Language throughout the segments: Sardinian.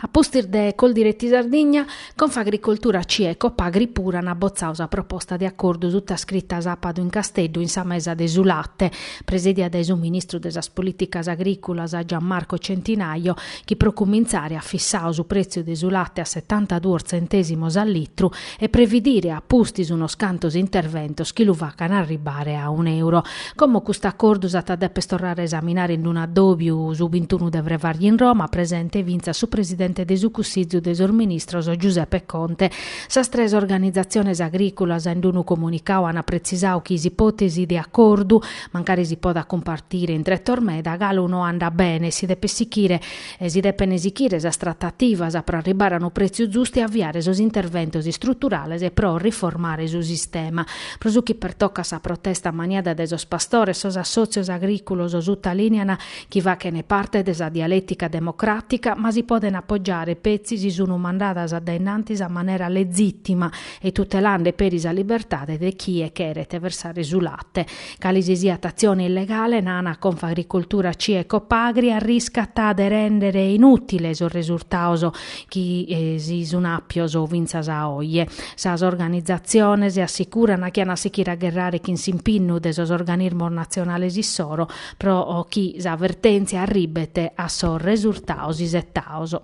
A pustis de Coldiretti Sardigna, Confagricoltura CIA e Copagri puru ant botzadu sa proposta de acordu sutascrita sàbadu in Casteddu in sa mesa de su late, presèdia dae su ministru de sas Polìticas Agrìculas Gian Marco Centinaio, chi pro cumintzare at fissadu su prètziu de su late a setantaduos tzentèsimos a litru, e previdire a pustis unos cantos interventos chi lu facan arribbare a un'euro. Como custu acordu s'at a dèper torrare a esaminare in unu addòbiu su bintunu de frevàrgiu in Roma, presente fintzas su presidente de su Cussizu de sos ministros Giuseppe Conte, sas tres organizatziones agrìculas in unu comunicadu ant pretzisadu chi s'ipòtesi de acordu, mancari si podat cumpartire in tretos meda, galu no andat bene e si depet sichire, e si depene sichire sas tratativas pro arribare a unu pretziu zustu e aviare sos interventos istruturales pro riformare su sistema. Pro su chi pertocat sa protesta maniada dae sos pastores, sos assòtzios agrìculos sutalìnean chi fachene parte de sa dialètica democràtica, ma si podene apogiare petzi si sunu mandadas a dae innantis a manera legìtima e tutelande peri sa libertade de chie cheret versare su late. Cali si siat atzione illegale, nana Confagricoltura CIA e Copagri arriscat de rèndere inùtile sos resurtados chi si sun àpios fintzas a oje. Sas organizatziones assicurana chi an a sichire a gherrare chin s'impinnu de sos organismos natzionales issoro pro chi sa vertèntzia arribet a sos resurtados isetados.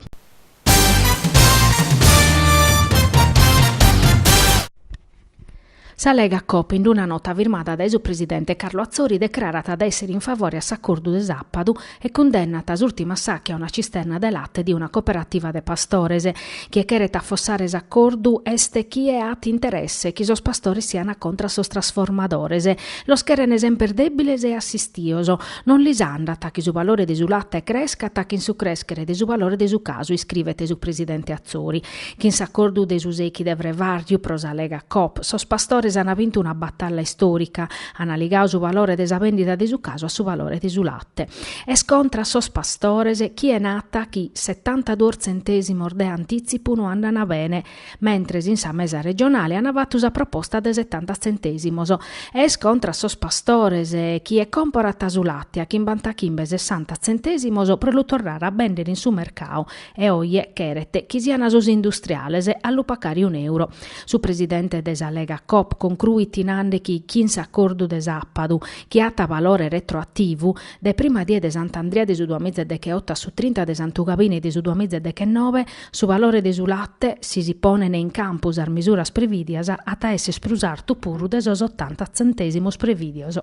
Sa Lega Coop in d-una nota firmada dae su presidente Carlo Atzori decrarat de èssere in favore a s'acordu de sàpadu e cundennat s'ùrtimu assàchiu a una cisterna de late de una cooperativa de pastores. Chie cheret afossare s'acordu est chie at interesse chi sos pastores sian contra a sos trasformadores. Los cheren semper dèbiles e assistios. Non lis andat chi su valore de su late crescat chin su crèschere de su valore de su casu, iscrivet su presidente Atzori. Chin s'acordu de su sechi de frevàrgiu pro sa Lega Coop, sos pastores ana vintu una batalla istorica, ana ligadu su valore de sa vendida de su casu a su valore de su latte. Est contra a sos pastores chie nata chi setantaduos tzentèsimos de antitzipu no andana bene, mentres in sa mesa regionale ana fatu sa proposta de setanta tzentèsimos. E est contra a sos pastores chie comporat su latte a chimbantachimbe-sessanta tzentèsimos pro lu torrare a bender in su mercadu, e oje cheret chi sian sos industriales a lu pacare un'euro. Su presidente de sa Lega Coop concruit nande chi chin s'acordu de sapadu, chi at valore retroativu, de prima die de Sant'Andria de su duamiza e decheoto a su trinta de Santu Gabine de su duamiza e dechenobe, su valore de su latte, si si ponene in campu sas misuras previdias, at a esser prus artu puru de sos otanta tzentesimos previdios.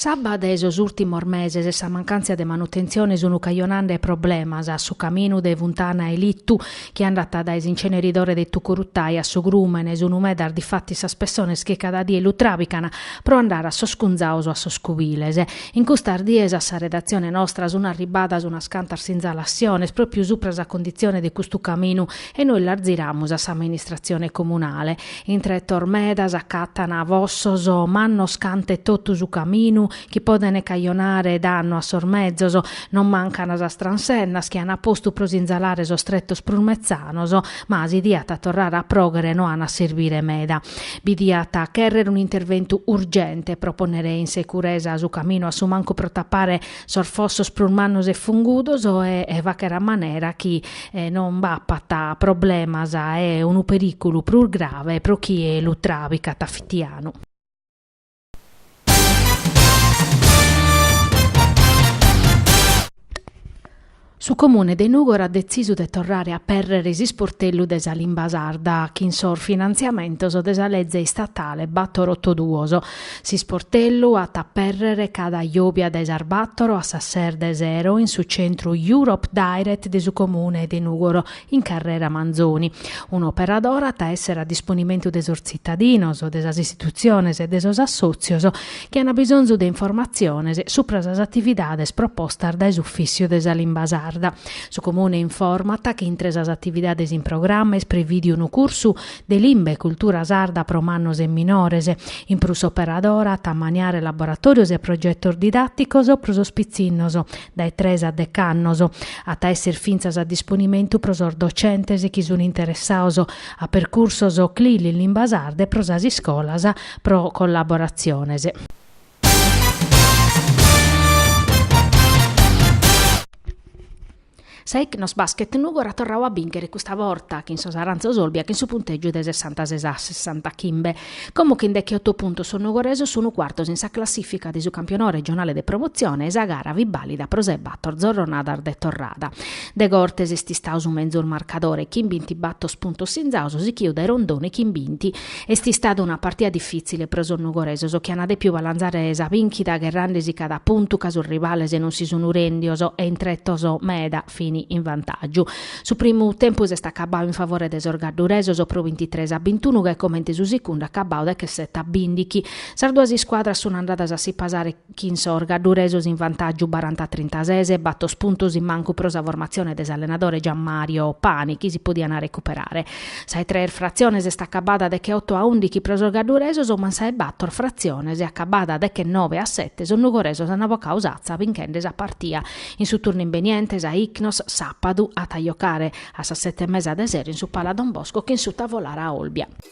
S'abba de sos ùrtimos meses e sa mancàntzia de manutentzione sunt cajonende problemas a su caminu de Funtana 'e Litu chi andat dae s'inceneridore de Tucurutai a su Grùmene. Sunt medas difatis sas pessones chi cada die lu tràbican pro andare a sos cunzaos o a sos cubiles. In custas dies a sa redatzione nostra sunt arribbadas unas cantas sinzalassiones pròpriu supra sa conditzione de custu caminu E nois las ziramus a s'amministratzione comunale. In tretos medas acatan fossos mannos cant'e totu su caminu chi podent cajonare dannu a sos mezos. Non mancan sas transennas chi an postu pro sinzalare sos tretos prus metzanos, ma si diat torrare a pròghere no an a serbire meda. Bi diat chèrrere un'interventu urgente pro pònnere in securesa su caminu a su mancu pro tapare sos fossos prus mannos e fungudos e fagher a manera chi non b'apat problemas e unu perìculu prus grave pro chie lu tràbicat a fitianu. Su Comune de Nùgoro at detzisu de torrare a apèrrere s'isportellu de sa limba sarda chin sos finantziamentos de sa leze istatale bator oto duos. S'isportellu at a apèrrere cada jòbia dae sas bator a sas ses de sero in su centru Europe Direct de su Comune de Nùgoro in Carrera Manzoni. Un'operadora at a èssere a disponimentu de sos tzitadinos, de sas istitutziones e de sos assòtzios chi an bisonzu de informatziones supra sas atividades propostas dae s'Ufìssiu de sa Limba Sarda. Su Comune informat chi intre sas atividades in programma est prevìdiu unu cursu de limba e cultura sarda pro mannos e minores. In prus s'operadora at a maniare laboratòrios e progetos didàticos pro sos pitzinnos, dae tres a dech'annos, at a esser fintzas a disponimentu pro sos docentes chi sun interessados a percursos CLIL in limba sarda e pro sas iscolas pro collaboratziones. Sa Ichnos Basket Nùgoro at torradu a bìnchere custa borta chin Sos Aranzos Olbia chin su puntègiu de sessantases a sessantachimbe. Como chin dechioto puntos sos nugoresos sun cuartos in sa classìfica de su campionadu regionale de promotzione e sa gara fit bàlida pro sas bator zorronadas de torrada. Degortes est istadu su menzus marcadore chin bintibator puntos sinzados sichidu dae Rondone chin binti. Est istada una partida difìtzile pro sos nugoresos chi ant dèpidu balanzare sa bìnchida gherrende si cada puntu ca sos rivales non si sunt rèndidos e in tretos meda fin in vantàgiu. Su primu tempus est acabadu in favore de sos gadduresos pro bintitres a bintunu gai comente su segundu acabadu dechessete a bìndighi. Sas duas iscuadras sunt andadas a si pasare. chi in sos gadduresos in vantàgiu baranta a trintases bator puntos in mancu pro sa formatzione de s'allenadore Gian Mario Pani chi si podian recuperare. Sa 'e tres fratziones est acabada degheoto a ùndighi pro sos gadduresos ma sa 'e bator fratziones acabada deghenoe a sete sos nugoresos ant bocadu s'atza binchende sa partia in su turnu imbeniente sa Ichnos sàpadu at a jocare a sas sete e mesa de sera in su Pala Don Bosco chin su Tavolara Olbia.